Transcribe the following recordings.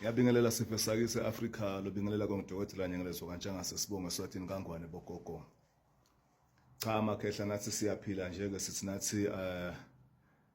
yabingelela siphe sake se-afrika lobingelela kongidokotela nyengelezo kantshangase sibonge eswatini kangwane bogogo cha makhehla nathi siyaphila nje-ke sithi nathi um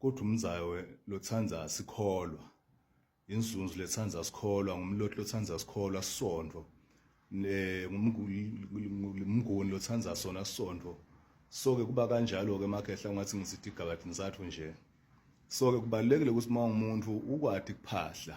Kodwa umzawe lothanda sikholwa inzunzu lethanda sikholwa ngumloti lothanda sikholwa sondo ngumnguni lothanda sona sondo soke kuba kanjalo ke makhehla ungathi ngisithi igabadi ngisathu nje soke kubalekile ukuthi uma umuntu ukwadi kuphahla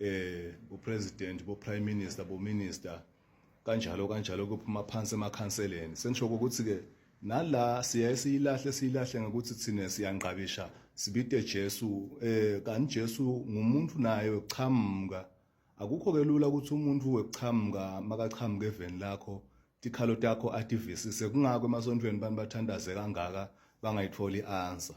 eh bo president bo prime minister bo minister kanjalo kanjalo kuphuma phansi emakhanseleni sengisho ukuthi ke nala siyaye siyilahle siyilahle ngokuthi thina siyangqabisha sibide Jesu eh kanti Jesu ngumuntu naye weqhamuka akukho ke lula ukuthi umuntu weqhamuka makaqhamuka eveni lakho tikhalo takho ativisise kungako emasontweni abantu bathandaze kangaka bangayitholi answer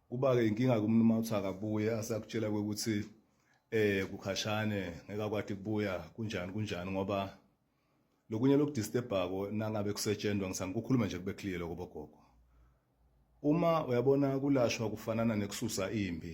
Kuba-ke inkinga kumntu uma uthi akabuye asakutshela ukuthi eh kukhashane ngeke akwati kubuya kunjani kunjani ngoba lokunye lokudisturbako nangabe kusetshenzwa ngisani kukhuluma nje kube clear lokho bogogo uma uyabona kulashwa kufanana nekususa impi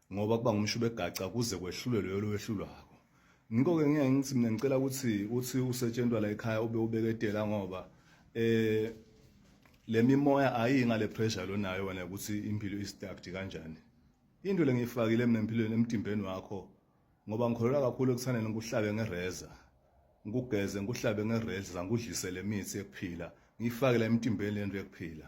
ngoba kuba ngumshubo egaca kuze kwehlule loyo lowehlulwako ngikho-ke ngeke ngithi mina ngicela ukuthi uthi usetshentwa la ekhaya ube ubeketela ngoba eh le mimoya ayiyi ngale pressure lonayo wena ukuthi impilo istacked kanjani into le ngiyifakile mina empilweni emtimbeni wakho ngoba ngikholelwa kakhulu ekuthandeni ngikuhlabe ngereza ngikugeze ngikuhlabe ngereza ngikudlise le mithi yokuphila ngiyifake la emtimbeni lento yokuphila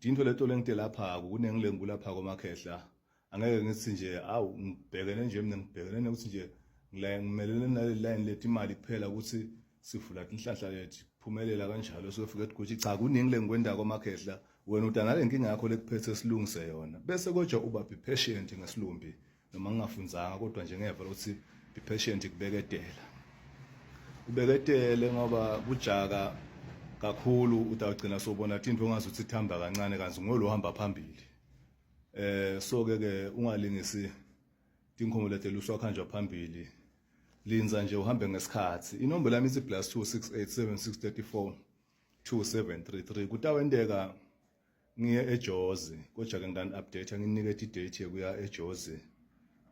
Dinto leto lengite lapha kunengilengu lapha komakhehla angeke ngithi nje awu ngibhekene nje mina ngibhekene nokuthi nje ngila ngimelele nale line leti imali kuphela ukuthi sivula inhlanhla yethu phumelela kanjalo sofika ukuthi cha kuningi lengikwenda komakhehla wena udanale inkinga yakho lekuphethe silungise yona bese kodwa uba be patient ngesilumbi noma ngingafunzanga kodwa nje ngeva ukuthi be patient kubeketela ubeketele ngoba kujaka kakhulu utagcina sobona into ongazi ukuthi ithamba kancane kanzi ngolo hamba phambili eh so ke ke ungalingisi tinkomo lete luswa khanjwa phambili linza nje uhambe ngesikhathi inombolo yami ithi +2687634273 kutawendeka ngiye eJozi kodwa ke ngani update nginike i date yokuya eJozi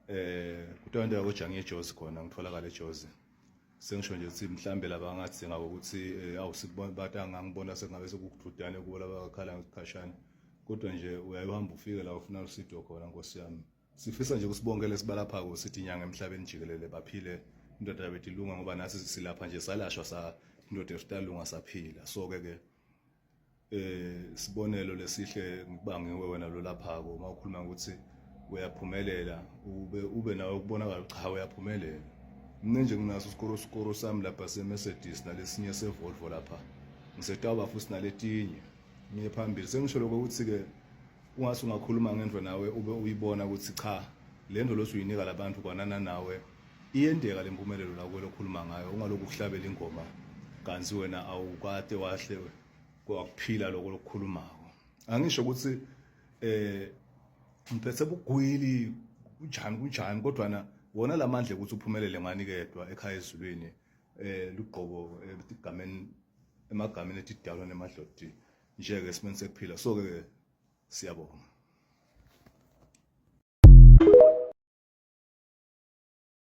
eh kuthiwa into yakoja ngiye eJozi khona ngitholakala eJozi sengisho nje ukuthi mhlambe laba ngathi ngabo ukuthi eh, awusikubona bata ngangibona sengabe sekukuthudane kubo laba bakhala ngesikhashana kodwa nje uyayuhamba ufike la ufuna usido khona nkosi yami sifisa nje kusibongele sibalaphako sithi inyanga emhlabeni jikelele baphile indoda yabethu ilunga ngoba nasi silapha nje salashwa sa indoda yethu talunga saphila so ke ke eh sibonelo lesihle ngibangiwe wena lo laphako uma ukhuluma ukuthi uyaphumelela ube ube nawe kubonakala cha uyaphumelela mina nje nginaso isikoro sikoro sami lapha seMercedes nalesinye seVolvo lapha ngisetawuba futhi naletinye ngiye phambili sengisho lokho ukuthi ke ungase ungakhuluma ngento nawe ube uyibona ukuthi cha lento losuyinika labantu kwanana nawe iyendeka le mpumelelo la kwelo khuluma ngayo ungalokhu uhlabela ingoma kanti wena awukade wahle kwakuphila lokho lokukhulumako angisho ukuthi eh ngiphethe bugwili kunjani kunjani kodwa na wona lamandla ukuthi uphumelele ngani kedwa ekhaya ezulwini eh lugqobo egameni eh, emagameni etidalwa nemadlodi nje ke simeni sekuphila so ke Siyabonga.